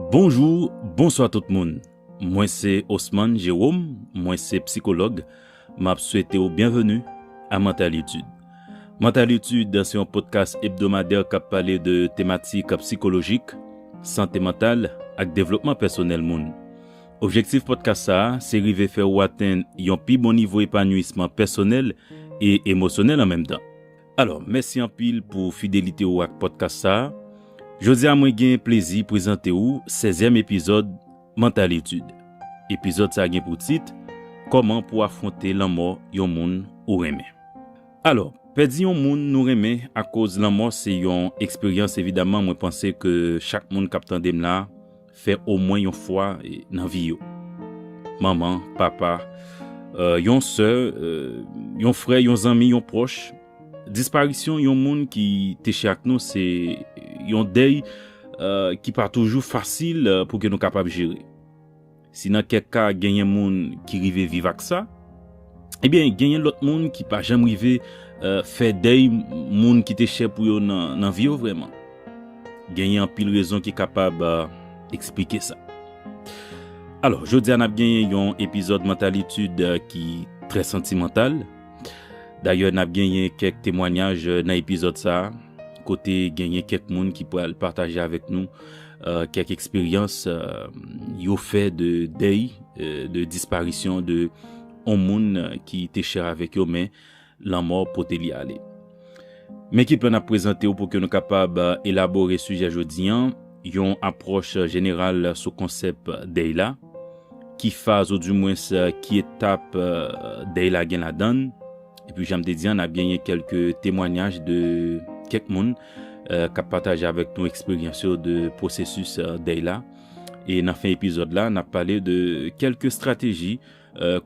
Bonjou, bonswa tout moun. Mwen se Osman Jerom, mwen se psikològ. M ap swete ou byenveni a Mental Etude. Mental Etude se yon podkas ebdomadè k ap pale de tematik psikolojik, sante mantal ak devlopman pèsonèl moun. Objektif podkas sa a se rive fè ou atenn yon pi bon nivo epanwisman pèsonèl e emosyonèl an menm tan. Alò, mèsi anpil pou fidelite ou ak pòdkas sa a. Jodi a mwen gen plezi prezante ou sèzyèm epizòd Mental Etude. Epizòd sa gen pou tit, Kòman pou afwonte lanmò yon moun ou renmen. Alò, pèdi yon moun nou renmen akoz lanmò se yon eksperyans evidaman mwen panse ke chak moun k ap tande m la, fè omwen yon fwa nan vi yo. Manman, papa, yon sè, yon frè, yon zanmi, yon pwòch. Disparisyon yon moun ki te chè ak nou se yon dèy ki pa toujou fasil pou ke nou kapab jere. Si nan kèk ka genyen moun ki rive viv ak sa, Ebyen genyen lòt moun ki pa janm rive fè dèy moun ki te chè pou yo nan vi yo vrèman. Genyen anpil rezon ki kapab eksplike sa. Alò, jodi a n ap genyen yon epizòd Mantalitude ki trè santimantal. Dayè n ap genyen kèk temwanyaj nan epizòd sa a, kote genyen kèk moun ki pral pataje avèk nou Kèk eksperyans yo fè de dèy, de disparisyon de yon moun ki te chè avèk yo men lanmò pote li ale. Men ki plan n ap prezante w pou ke nou kapab elabore sijè jodi an, yon apwòch jeneral sou konsèp dèy la, ki faz ou di mwens ki etap dèy la gen ladan l, epi jan m te di an n ap genyen kèlke temwanyaj de kèk moun. k ap pataje avèk nou eksperyans yo de pwosesis dèy la. E nan fen epizòd la, n ap pale de kèlke estrateji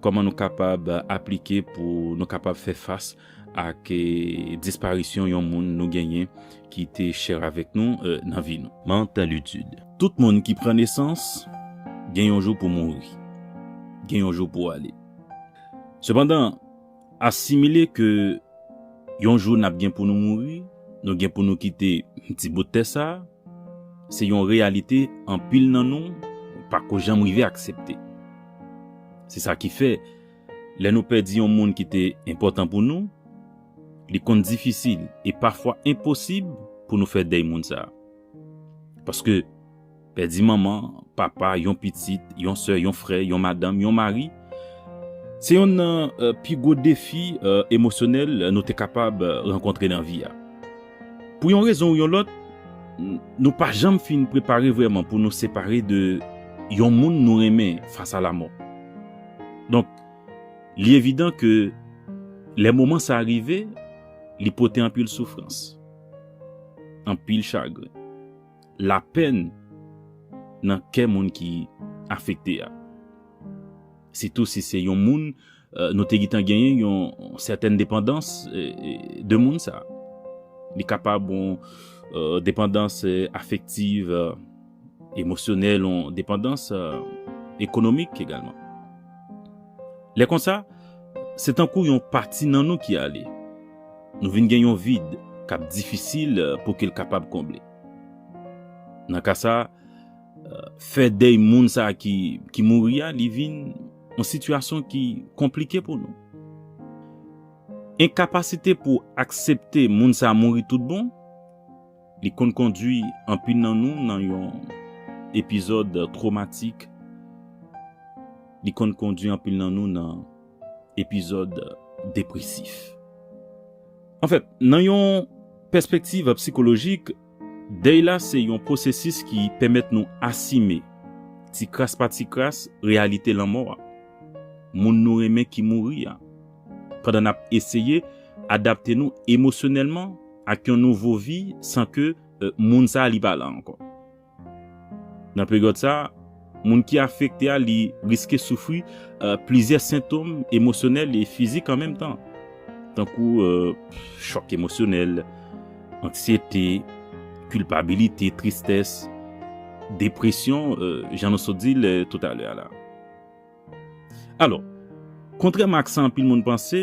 kòman nou kapab aplike pou nou kapab fè fas ak disparisyon yon moun nou genyen ki te chè avèk nou nan vi nou. Mantalitude, Tout moun ki pran nesans gen yon jou pou mouri, gen yon jou pou ale. Sepandan. Asimile ke yon jou n ap gen pou nou mouri, nou gen pou nou kite ti bout tè sa a, se yon reyalite anpil nan nou pa ko janm rive aksepte. Se sa ki fè, lè nou pèdi yon moun ki te enpòtan pou nou, li konn difisil e pafwa enposib pou nou fè dèy moun sa a. Paske. Pèdi manman, papa, yon pitit, yon sè, yon frè, yon madanm, yon mari, se yonn nan pi gwo defi emosyonèl nou te kapab rankontre nan vi a. Pou yon rezon ou yon lòt, nou pa janm fin prepare vrèman pou nou separe de yon moun nou renmen fas a lamò. Donk, li evidan ke lè moman sa a rive, li pote anpil soufrans, anpil chagren, lapenn nan kè moun ki afekte a. Sitou si se yon moun nou te gentan genyen yon sètèn depandans de moun sa. Li kapab yon depandans afektiv, emosyonèl, yon depandans ekonomik egalman. Lè konsa, se tankou yon pati nan nou ki ale. Nou vin gen yon vid k ap difisil pou ke l kapab konble. Nan ka sa, fè dèy moun sa ki mouri a li vin yon sitiyasyon ki konplike pou nou. Enkapasite pou aksepte moun sa mouri tout bon, li konn kondwi anpil nan nou nan yon epizòd twomatik, li konn kondwi anpil nan nou nan epizòd depresif. Anfèt, nan yon pèspektiv psikolojik, dèy la se yon pwosesis ki pèmèt nou asime, ti kras pa ti kras, reyalite lanmò a, moun nou renmen ki mouri a, pandan n ap eseye adapte nou emosyonèlman ak yon nouvo vi san ke moun sa a li pa la ankò. Nan peryòd sa, moun ki afekte a li riske soufri plizyè sentom emosyonèl e fizik an menm tan, tankou chòk emosyonèl, anksyete, kilpabilite, tristès, depresyon, jan nou sot di l toutalè a la. Alò, kontrèman ak sa anpil moun panse,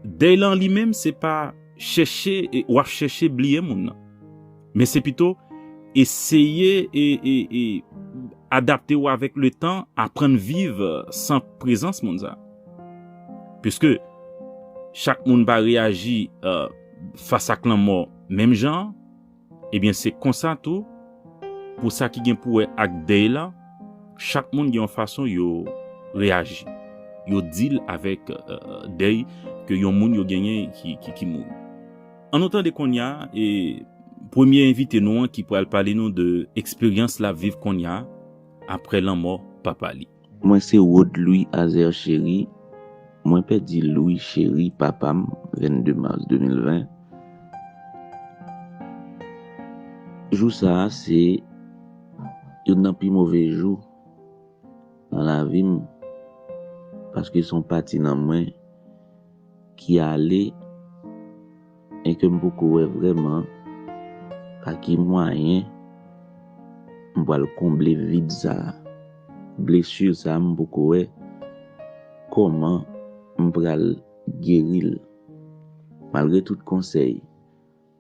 dèy la an li menm se pa chèche e w ap chèche bliye moun nan. Men se pito eseye e e adapte w avèk letan, aprann viv san prezans moun sa. Piske chak moun pa reyaji fas ak lanmò menm jan an. Ebyen se konsa tou pou sa ki gen pou wè ak dèy lan, chak moun gen yon fason yo reyaji, yo deal avèk dèy ke yon moun yo genyen ki mouri. An nou tande konnya premye envite nou an ki pral pale nou de eksperyans lap viv konnya aprè lanmò papa li. Mwen se Rod Louis Azer Chéry Mwen pèdi Louis Chéry papa m 22 mars 2020 Jou sa a se Youn nan pi move jou Nan lavi m Paske son pati nan mwen ki ale men ke m poko wè vrèman pa ki mwayen m pral konble vid sa, blessure sa m poko wè kòman m pral geri l. Malgre tout konsèy.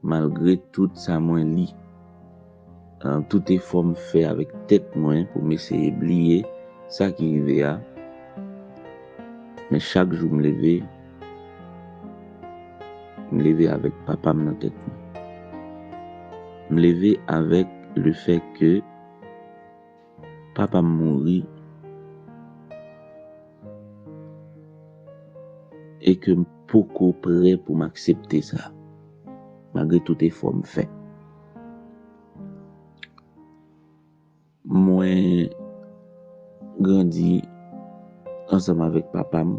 Malgre tout sa mwen li, an tout efò m fè avèk tèt mwen pou m eseye bliye sa ki rive a, men chak jou m leve, m leve avèk papa m nan tèt mwen. M leve avèk le fè ke. Papa m mouri e ke m poko prè pou m aksepte sa malgre tout efò m fè. Mwen grandi ansanm avèk papa m,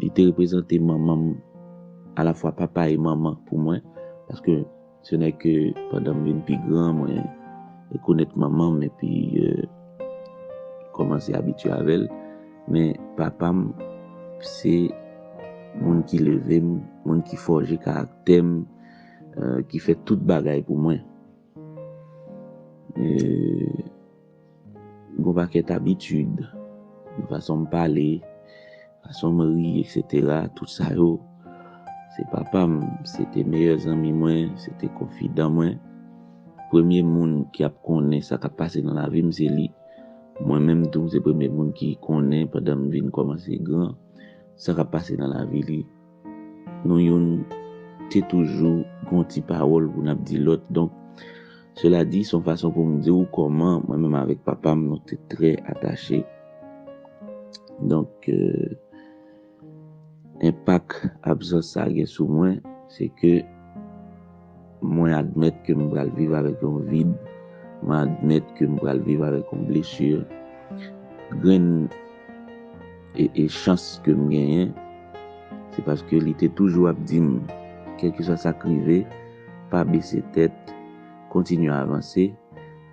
li te reprezante manman m, alafwa papa e manman pou mwen paske. Se nè ke pandan m vin pi gran, mwen rekonèt manman m epi kòmanse abitye avè l. Men papa m se moun ki leve m, moun ki fòje karaktè m, ki fè tout bagay pou mwen. Gon pakèt abitid, nan fason m pale, fason m ri eksetera, tout sa yo, se papa m, se te meyè zanmi mwen, se te konfidan mwen. Premye moun ki ap konnen sa k ap pase nan lavi m se li. Mwen menm tou, se premye moun ki konnen pandan m vin kòmanse gran, sa k ap pase nan lavi li. Nou youn te toujou gon ti pawòl pou n ap di lòt. Donk, sela di, s on fason pou m di w kòman mwen menm avèk papa m nou te trè atache. Donk, enpak absans sa gen sou mwen, se ke. Mwen admèt ke m pral viv avèk yon vid, mwen admèt ke m pral viv avèk yon blesi, grenn e e chans ke m genyen se paske li te toujou ap di m kèlkeswa sa k rive pa bese tèt, kontinye avanse,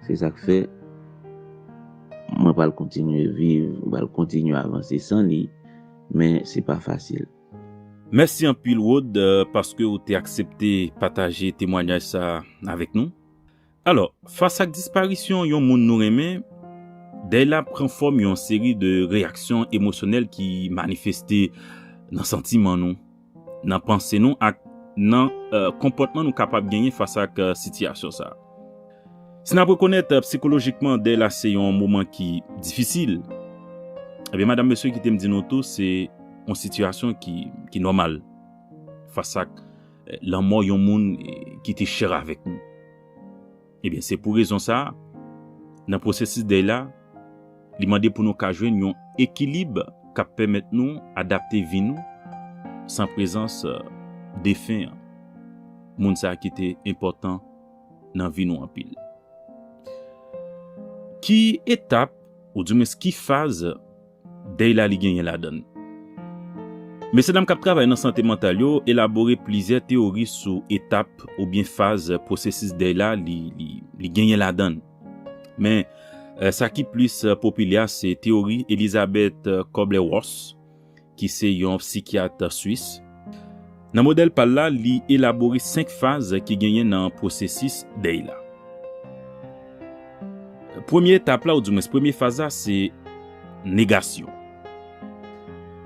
se sa k fè mwen pral kontinye viv, mwen pral kontinye avanse san li, men se pa fasil. Mèsi anpil Rod paske ou te aksepte pataje temwanyaj sa avèk nou. Alò, fas ak disparisyon yon moun nou renmen, dèy la pran fòm yon seri de reyaksyon emosyonèl ki manifeste nan santiman nou, nan panse nou ak nan konpòtman nou kapab genyen fas ak sitiyasyon sa. Si n ap rekonèt psikolojikman dèy la se yon moman ki difisil, ebyen madam mesye kite m di nou tou se yon sitiyasyon ki nòmal fas ak lanmò yon moun ki te chè avèk nou. Ebyen se pou rezon sa a, nan pwosesis dèy la, li mande pou nou ka jwenn yon ekilib k ap pèmèt nou adapte vi nou san prezans defen an, moun sa ki te enpòtan nan vi nou anpil. Ki etap ou di mwens ki faz dèy la li genyen ladan l? Mesye dam k ap travay nan sante mantal yo elabore plizyè teyori sou etap oubyen faz pwosesis dèy la li genyen ladan l. Men, sa ki plis popilè a se teyori Elizabeth Kubler-Ross ki se yon psikyat swis, nan modèl pa l la, li elabore senk faz ki genyen nan pwosesis dèy la. Premye etap la, ou di mwens premye faz la, se negasyon.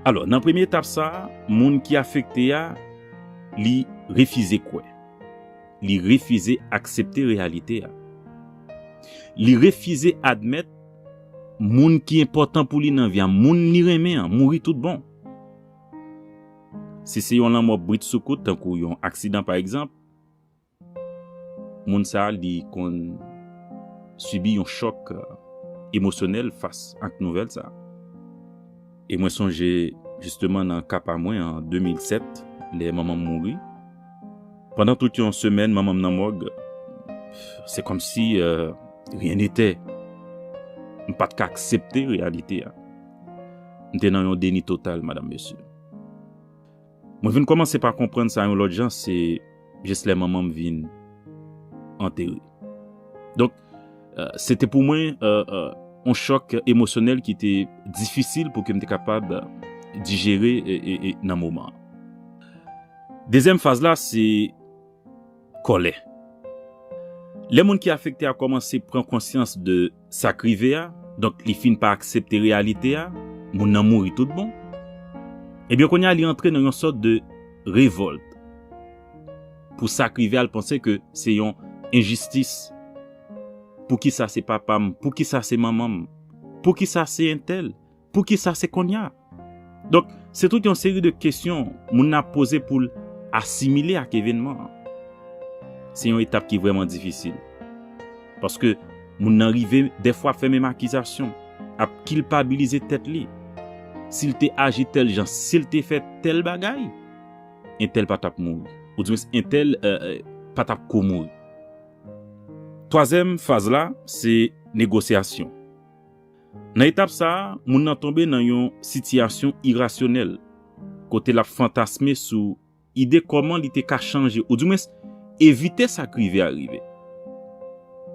Alò, nan premye etap sa a, moun ki afekte a, li refize kwè. Li refize aksepte reyalite a. Li refize admèt. Moun ki enpòtan pou li nan vi a, moun li renmen an, mouri tout bon. Si se yon lanmò britsoukout, tankou yon aksidan pa egzanp, moun sa a li konn sibi yon chòk emosyonèl fas ak nouvèl sa a. E mwen sonje jisteman nan ka pa mwen an 2007 lè manman m mouri. Pandan tout yon semèn manman m nan mòg, se kòmsi ryen netè. M pa t ka aksepte reyalite a. M te nan yon deni total, madanm mesye. Mwen vin kòmanse pa konprann sa yon lòt jan se jis lè manman m vin antere. Donk, se te pou mwen yon chòk emosyonèl ki te difisil pou ke m te kapab dijere nan moman an. Dezyèm faz la se kòlè. Lè moun ki afekte a kòmanse pran konsyans de Sa k rive a, donk li fin pa aksepte reyalite a, moun nan mouri tout bon. Ebyen kounye a li antre nan yon sòt de revòlt pou sa k rive a, l panse ke se yon enjistis, poukisa se papa m, poukisa se manman m, poukisa se entèl? Pou ki sa se konnya? Donk, se tout yon seri de kesyon moun nan ap poze pou l asimile ak evènman an. Se yon etap ki vrèman difisil. Paske moun nan rive dèfwa ap fè menm akizasyon, ap kilpabilize tèt li. Si l te aji tèl jan, si l te fè tèl bagay, entèl pa t ap mouri. Oudimwens entèl pa t ap ko mouri. Twazyèm faz la, se negosyasyon. Nan etap sa a, moun nan tonbe nan yon sitiyasyon irasyonèl, kote l ap fantasme sou ide kòman li te ka chanje ou di mwens evite sa k rive a rive.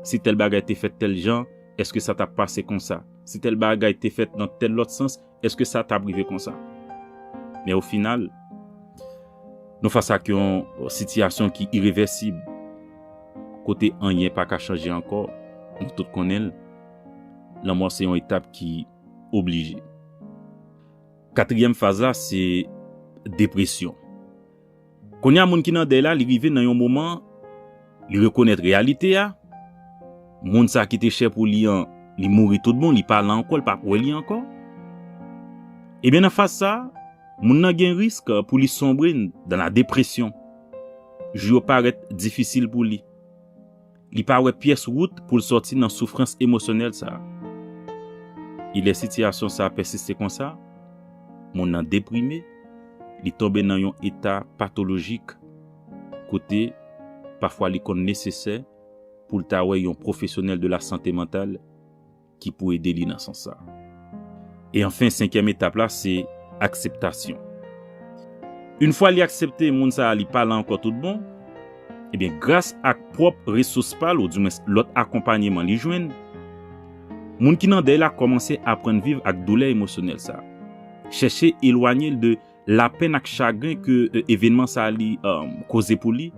Si tèl bagay te fèt tèl jan, èske sa t ap pase konsa? Si tèl bagay te fèt nan tèl lòt sans, èske sa t ap rive konsa? Men ofinal, nou fas ak yon sitiyasyon ki irevèsib, kote anyen pa ka chanje ankò, nou tout konnen l. Lanmò se yon etap ki oblije. Katriyèm faz la se depresyon. Kounye a moun ki nan dèy la li rive nan yon moman li rekonèt reyalite a, moun sa ki te chè pou li an li mouri tout bon li pa la ankò li pa wè li ankò. Ebyen nan faz sa moun nan gen risk pou li sonbre nan la depresyon. Jou yo parèt difisil pou li. Li pa wè pyès wout pou l sòti nan soufrans emosyonèl sa a. E lè sitiyasyon sa a pèsiste konsa, moun nan deprime, li tonbe nan yon eta patolojik kote pafwa li konn nesesè pou l ta wè yon pwofesyonèl de lasante mantal ki pou ede li nan sans sa. E anfen senkyèm etap la se akseptasyon. Yn fwa li aksepte moun sa a li pa la ankò tout bon, ebyen gras ak pwòp resous pa l ou di mwens lòt akonpanyeman li jwenn, moun ki nan dèy la kòmanse aprann viv ak doulè emosyonèl sa, chèche elwanye l de lapenn ak chagren ke evenman sa li koze pou li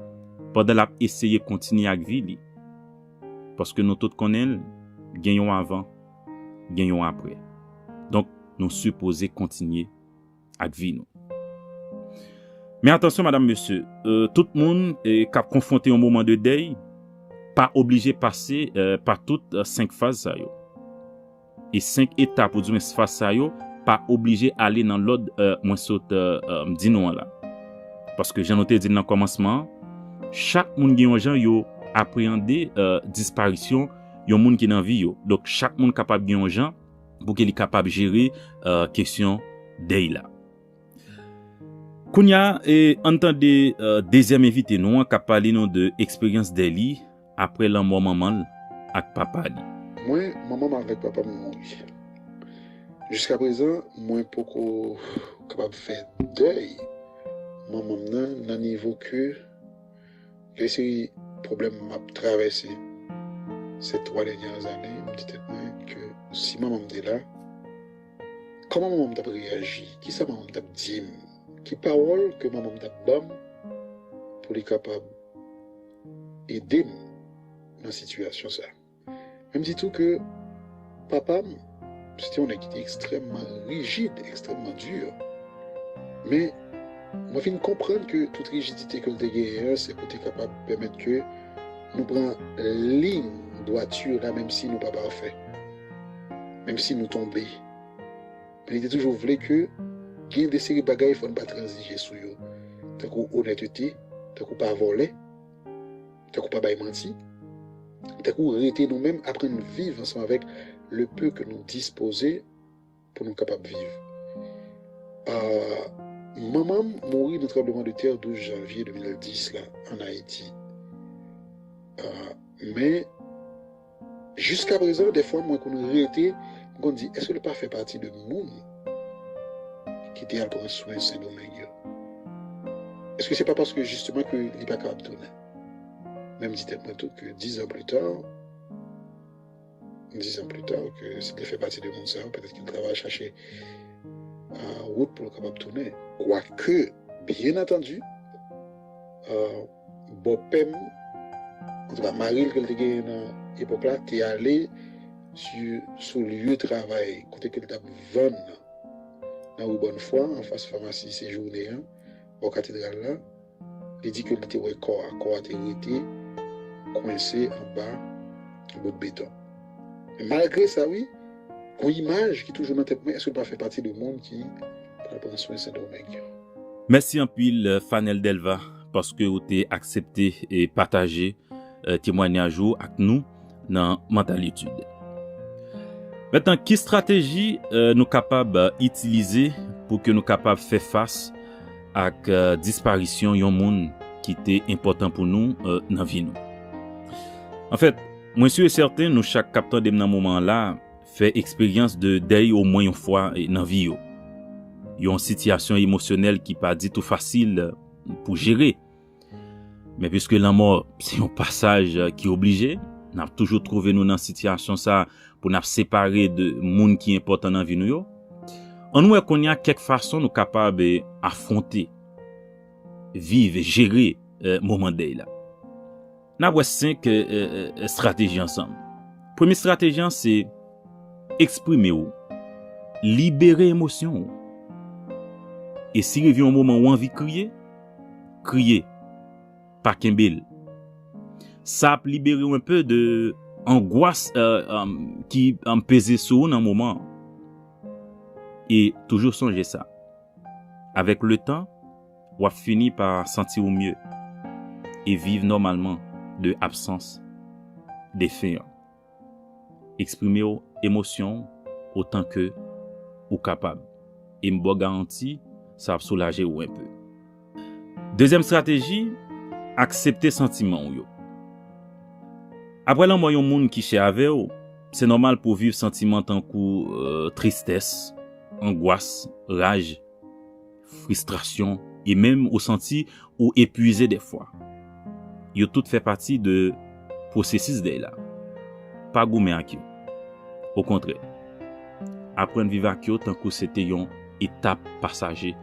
pandan l ap eseye kontinye ak vi li. Paske nou tout konnen l, gen yon avan, gen yon aprè. Donk, nou sipoze kontinye ak vi nou. Men atansyon madam mesye, tout moun k ap konfwonte yon moman de dèy pa oblije pase pa tout senk faz sa yo. E 5 etap oudwen sfas sa yo pa oblije ale nan lòd mwen sot di nou an la. Paske jan nou te di l nan kòmansman an, chak moun gen yon jan yo apreyande disparisyon yon moun ki nan vi yo. Donk chak moun kapab gen yon jan pou ke li kapab jere kesyon dèy la. Kounya an n tande dezyèm envite nou an k ap pale nou de eksperyans dèy li Apre lanmò manman l ak papa li. Mwen, manman m avèk papa m mouri. Jiskaprezan, mwen poko kapab fè dèy manman m nan nan nivo ke gen seri pwoblèm m ap travèse sè twa dènyè zane. M di tèt mwen ke si manman m te la, kòman manman m t ap reyaji? Kisa manman m t ap di m? Ki pawòl ke manman m t ap ban m pou li kapab edem nan sitiyasyon sa. Men m di tou ke papam se te yon nèg ki te ekstrèmman rijid, ekstrèmman dur. Men mwen fin konprann ke tout rijidite ke l te genyen an se pou te kapab pèmèt ke nou pran liy dwati la menm si nou pa pafè, menm si nou tonbe. Men li te toujou vle ke gen de seri bagay fò n pa tranzije sou yo, tankou onètete, tankou pa vòlè, tankou pa bay manti, tankou rete nou menm, aprann viv ansanm avèk le peu ke nou dispoze pou nou kapab viv. Manman m mouri nan tranbleman de tè 12 janvye 2010 la an Ayiti. Men. Jiskaprezan dèfwa mwen konn rete m konn di èske nou pa fè pati de moun ki te al pran swen Sendomeng yo? Èske se pa paske jisteman ke li pa kapab tounen? Men m di tèt mwen tou ke dizan plita, dizan plita ke si l te fè pati de moun sa yo petèt ke l ta va chache wout pou l kapab tounen. Kwake, byen antandi, Bòpèm, antouka maril ke l te genyen nan epòk la te ale sou lye travay kote ke l tap vann nan, nan ri Bòn Fwa anfas famasi Sejourne an, bò katedral la, li di ke li te wè kò a, kò a te rete kwense anba bout beton. Men malgre sa wi, gon imaj ki toujou nan tèt mwen, èske l pa fè pati de moun ki pral pran swen Sendomeng yo? Mèsi anpil Fanel Delva. paske ou te aksepte e pataje temwanyaj ou ak nou nan Mental Etudes. Metan ki strateji nou kapab itilize pou ke nou kapab fè fas ak disparisyon yon moun ki te enpòtan pou nou nan vi nou? Anfèt, mwen si e sèten nou chak kap tande m nan moman an la fè eksperyans de dèy omwen yon fwa nan vi yo. Yon sitiyasyon emosyonèl ki pa ditou fasil. pou jere. Men pwiske lanmò se yon pasaj ki oblije, n ap toujou twouve nou nan sitiyasyon sa a pou n ap separe de moun ki enpòtan nan vi nou yo. An nou wè kounye a kèk fason nou kapab afwonte, viv, jere moman dèy la. N ap wè 5 estrateji ansanm. Premye estrateji an se eksprime ou, libere emosyon ou. E si rive yon moman ou anvi kriye, kriye, pa kenbe l. Sa ap libere ou enpe de angwas ki peze sou ou nan moman an. E toujou sonje sa, avèk letan, W ap fini pa santi ou mye e viv nòmalman de absans defen an. Eksprime w emosyon w otan ke ou kapab e m ba w garanti sa ap soulaje ou enpe. Dezyèm estrateji, Aksepte santiman w yo. Apre lanmò yon moun ki chè avè w, se nòmal pou w viv santiman tankou tristès, angwas, raj. fristrasyon e menm ou santi ou epwize dèfwa. Yo tout fè pati de pwosesis dèy la. Pa goumen ak yo. Okontrè, aprann viv ak yo tankou se te yon etap pasaje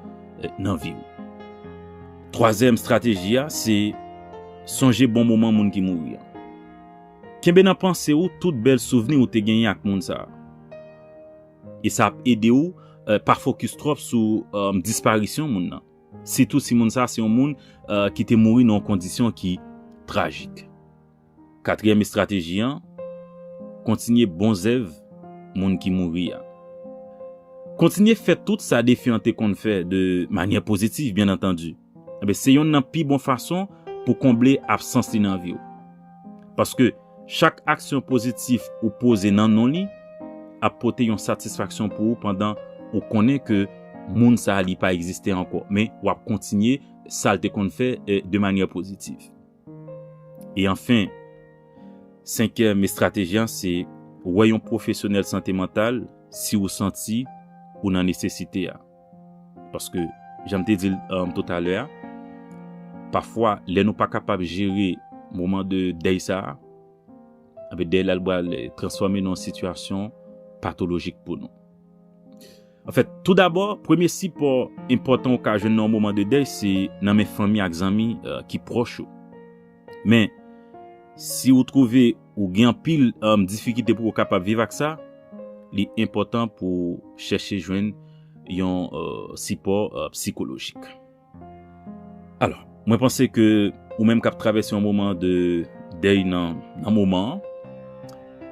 nan vi ou. Twazyèm strateji a se sonje bon moman moun ki mouri an. Kenbe nan panse ou tout bèl souvni ou te genyen ak moun sa a. E sa ap ede ou pa fokis twòp sou disparisyon moun nan. Sitou si moun sa se yon moun ki te mouri nan yon kondisyon ki trajik. Katriyèm estrateji an, Kontinye bon zèv moun ki mouri a. Kontinye fè tout sa defi an te konn fè de manyè pozitif byen antandi. Enben, se yonn nan pi bon fason pou konble absans li nan vi w. Paske, chak aksyon pozitif ou poze nan non li ap pote yon satisfaksyon pou ou pandan ou konnen ke moun sa a li pa egziste ankò, men w ap kontinye sa l te konn fè de manyè pozitif. E anfen, senkyèm estrateji an se wè yon pwofesyonèl sante mantal si ou santi ou nan nesesite a. Paske, jan m te di l totalè a, pafwa lè nou pa kapab jere moman de dèy sa a, enben dèy la li pral transfòme nan yon sitiyasyon patolojik pou nou. Anfèt, toudabò, premye sipò enpòtan ou ka jwenn nan yon moman de dèy se nan men fanmi ak zanmi ki pwòch ou. Men, si ou twouve ou gen anpil difikilte pou ou kapab viv ak sa, li enpòtan pou ou chèche jwenn yon sipò psikolojik. Alò, mwen panse ke ou menm k ap travèse yon moman de dèy nan moman an,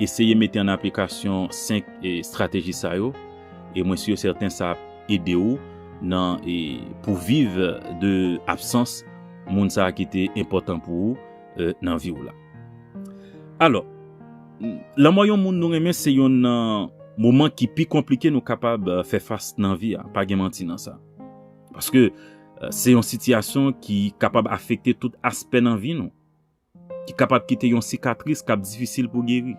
eseye mete an aplikasyon senk estrateji sa yo, e mwen si yo sèten sa ap ede ou nan pou viv de absans, moun sa ki te enpòtan pou ou nan vi ou la. Alò, lanmò yon moun nou renmen se yonn nan moman ki pi konplike nou kapab fè fas nan vi a, pa gen manti nan sa. Paske se yon sitiyasyon ki kapab afekte tout aspè nan vi nou. ki kapab kite yon sikatris k ap difisil pou geri.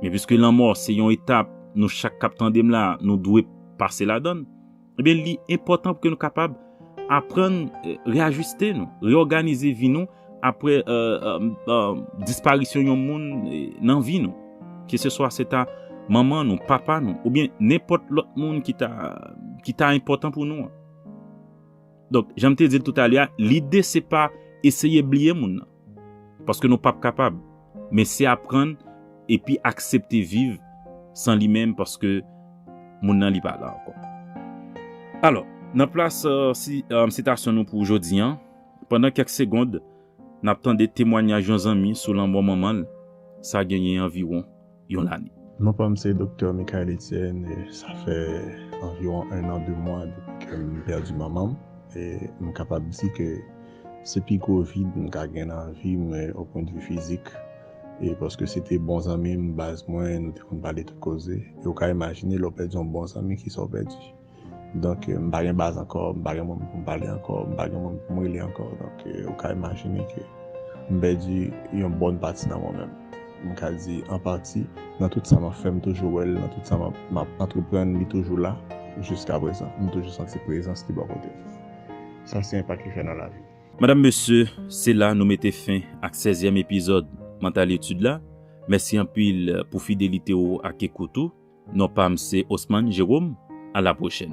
Men piske lanmò se yon etap nou chak k ap tande m la a nou dwe pase ladan l, ebyen li enpòtan pou ke nou kapab aprann reyajiste nou, reyòganize vi nou apre disparisyon yon moun nan vi nou, keseswa se ta manman nou, papa nou oubyen nenpòt lòt moun ki ta enpòtan pou nou an. Donk, jan m te di l toutalè a, lide se pa eseye bliye moun nan. Paske nou pap kapab. Men se aprann epi aksepte viv san li menm paske moun nan li pa la ankò. Alò, nan plas sitasyon nou pou jodi an, pandan kèk segond, n ap tande temwanyaj yon zanmi sou lanmò manman l, sa genyen anviwon yon lane. Non pa m se Doktè Michaël Etienne e sa fè anviwon 1 an 2 mwa depi ke m pèdi manman m e m kapab di ke se pi gwo vid m ka gen nan vi m opwendvi fizik e paske se te bon zanmi m, baz mwen, nou te konn pale tout koze e ou ka imajine lè w pèdi yon bon zanmi kisa w pèdi. Donk m pa gen baz ankò, m pa gen moun pou m pale ankò, m pa gen moun pou m rele ankò. Donk ou ka imajine ke m pèdi yon bòn pati nan mwen menm. M ka di an pati, nan tout sa m ap fè m toujou wè l, nan tout sa m ap antreprann li toujou la jiskaprezan. M toujou santi prezans li bò kote m. Sa se enpak li fè nan lavi m. Madam, mesye, se la nou mete fen ak sèzyèm epizòd Mantalitude la. Mèsi anpil pou fidelite ou ak ekout ou. Non pam se Osman Jerome a la pwochèn.